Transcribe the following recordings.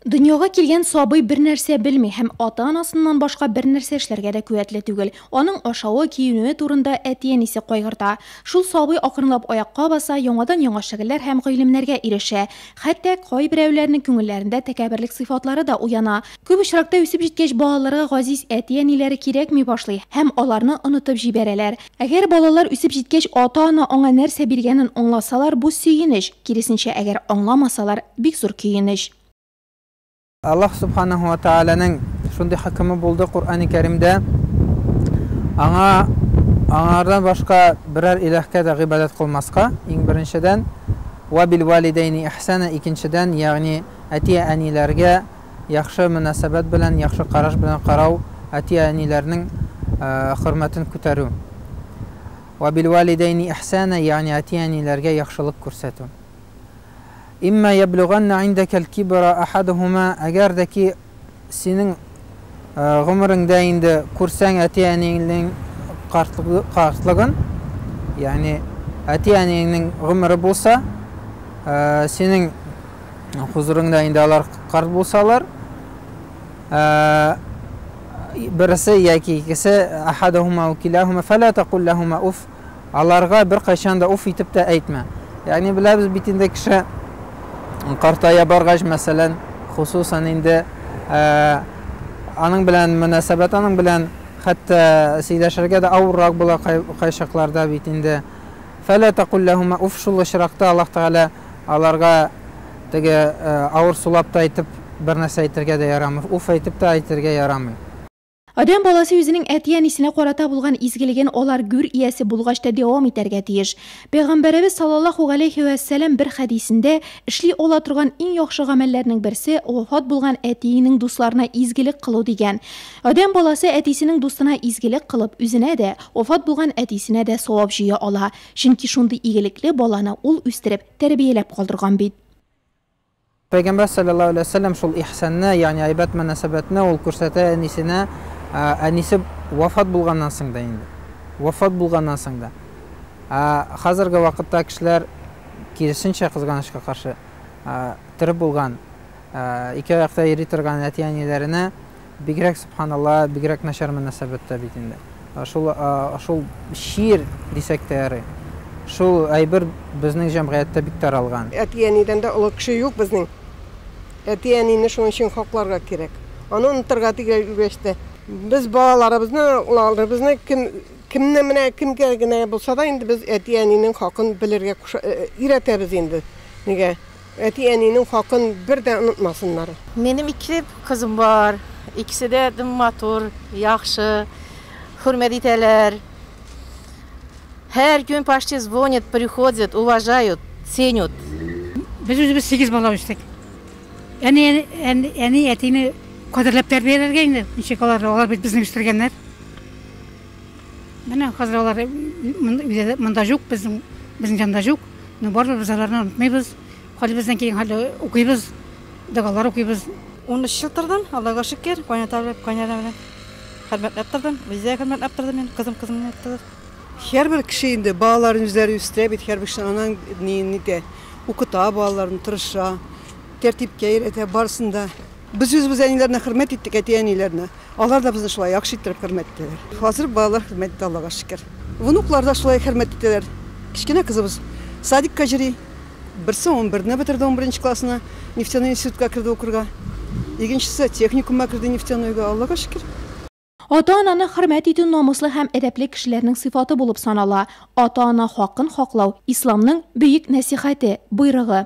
Дөньяга килгән сабый бер нәрсә белми һәм ата-анасыннан башка бер нәрсә эшләргә дә куәтле түгел. Аның ашавы, киенүе турында әти-әнисе кайгырта. Шул сабый акрынлап аякка баса, яңадан-яңа шөгыльләр һәм гыйлемнәргә ирешә. Хәтта кайберәүләрнең күңелләрендә тәкәбберлек сыйфатлары да уяна. Күп очракта үсеп җиткәч, балаларга газиз әти-әниләре кирәкми башлый һәм аларны онытып җибәрәләр. Әгәр балалар үсеп җиткәч ата-ана аңа нәрсә биргәнен аңласалар, бу сөенеч, киресенчә, әгәр аңламасалар, бик зур көенеч. Аллаһ Субханаһу ва Тәгаләнең шундый хөкеме булды Коръәни Кәримдә, Аңа, Аңардан башка берәр илаһкә дә гыйбадәт кылмаска, иң беренчедән, Вә бил вәлидәйни ихсана, икенчедән, ягъни әти-әниләргә Яхшы мөнәсәбәт белән, яхшы караш белән карау, әти-әниләрнең хөрмәтен күтәрү. Вә билвәлидәйни ихсана, ягъни әти-әниләргә яхшылык күрсәтү. Имма яблүганна индәкәл кибра ахадухума, әгәр дә ки синең гомереңдә инде күрсәң әти-әниеңнең картлыгын, ягъни әти-әниеңнең гомере булса, синең хозурыңда инде алар карт булсалар, берсе яки икесе ахадахума ва килахума фала такул лахума уф аларга бер кайчан да уф итеп тә әйтмә. Ягъни беләбез бит инде кеше картая баргач, мәсәлән, хусусан инде аның белән мөнәсәбәт аның белән хәтта сөйләшергә дә авыррак була кайчакларда бит инде. Фала такул лахума уф шул очракта Аллаһ Тәгалә Аларга теге авыр сулап та әйтеп бернәрсә әйтергә дә ярамый, уф әйтеп тә әйтергә ярамый. Адәм баласы үзенең әти-әнисенә карата булган изгелеген алар гүр иясе булгач та дәвам итәргә тиеш. Пәйгамбәребез саллаллаһу галәйһи вә сәлам бер хәдисендә, Эшли ала торган иң яхшы гамәлләрнең берсе, вафат булган әтиеңнең дусларына изгелек кылу, дигән. Адәм баласы әтисенең дустына изгелек кылып, үзенә дә, вафат булган әтисенә дә савап җыя ала. Чөнки шундый игелекле баланы ул үстереп, тәрбияләп калдырган бит. Пәйгамбәр салләллаһу аләйһи вә сәлләм шул ихсанны, ягъни әйбәт мөнәсәбәтне ул күрсәтә әнисенә, әнисе вафат булганнан соң да инде. Вафат булганнан соң да. Ә хәзерге вакытта кешеләр, киресенчә, кызганычка каршы, тере булган, ике аякта йөри торган әти-әниләренә, Бигрәк Сөбханалла, бигрәк начар мөнәсәбәттә бит инде. Шул, шул чир дисәк тә ярый. Шул әйбер безнең җәмгыятьтә бик таралган. Әти-әнидән дә олы кеше юк безнең. Әти-әнине шуның өчен хакларга кирәк. Аны онытырга тиңләр үлгәч тә. Без балаларыбызны, углаларыбызны кем, кемне менә кемгә генә булса да инде без әти-әнинең хакын белергә куша, өйрәтәбез инде. Нигә? Әти-әнинең хакын бер дә онытмасыннар. Минем ике кызым бар, икесе дә дөм матур, яхшы, хөрмәт итәләр. Һәр көн почти звонят, приходят, уважают, ценют. Без үзебез сигез бала үстек. Әни, әни, әтине кадерләп тәрбияләргә инде, ничек алар, алар бит безне үстергәннәр. Менә хәзер алар монда юк, безнең безнең җанда юк. Но барыбер без аларны онытмыйбыз. Хәлебездән килгән хәлдә укыйбыз, догалар укыйбыз. 13 ел тордым, Аллага шөкер, кайната белән, кайнана белән хөрмәтләп тордым. Үзләре хөрмәтләп торды мин, кызым кызымны яттылар. Һәрбер кеше инде балаларын үзләре үстерә бит, һәрбер кеше анаң ни итә, укыта балаларын, тырыша, тәртипкә өйрәтә, барысын да. Без үзебез әниләрне хөрмәт иттек, әти-әниләрне. Алар да безне шулай яхшы иттереп хөрмәт итәләр. Хәзер балалар хөрмәт итә, Аллага шөкер. Внуклар да шулай хөрмәт итәләр. Кечкенә кызыбыз садикка йөри. Берсе унберне бетерде, унберенче классны. Нефтяной институтка керде укырга. Икенчесе техникумга керде Нефтянойга. Аллага шөкер. Ата-ананы хөрмәт итү намуслы һәм әдәпле кешеләрнең сыйфаты булып санала. Ата-ана хакын хаклау, Исламның бөек нәсыйхәте, боерыгы.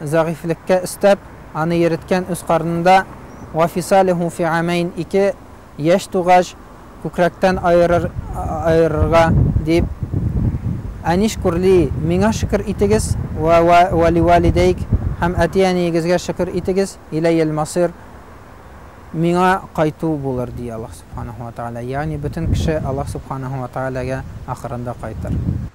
зәгыйфьлеккә өстәп, аны йөреткән үз карынында, Вә фисалеху фи амәйн, ике яшь тугач, күкрәктән аерыр, аерырга, дип, Әнишкур ли, миңа шөкер итегез, вә вә ливалидәйк, һәм әти-әниегезгә шөкер итегез, иләйел масыйр, миңа кайту булыр, ди Аллаһ Сүбхәнәһү вә Тәгалә, ягъни бөтен кеше Аллаһ Сүбхәнәһү вә Тәгаләгә ахырында кайтыр.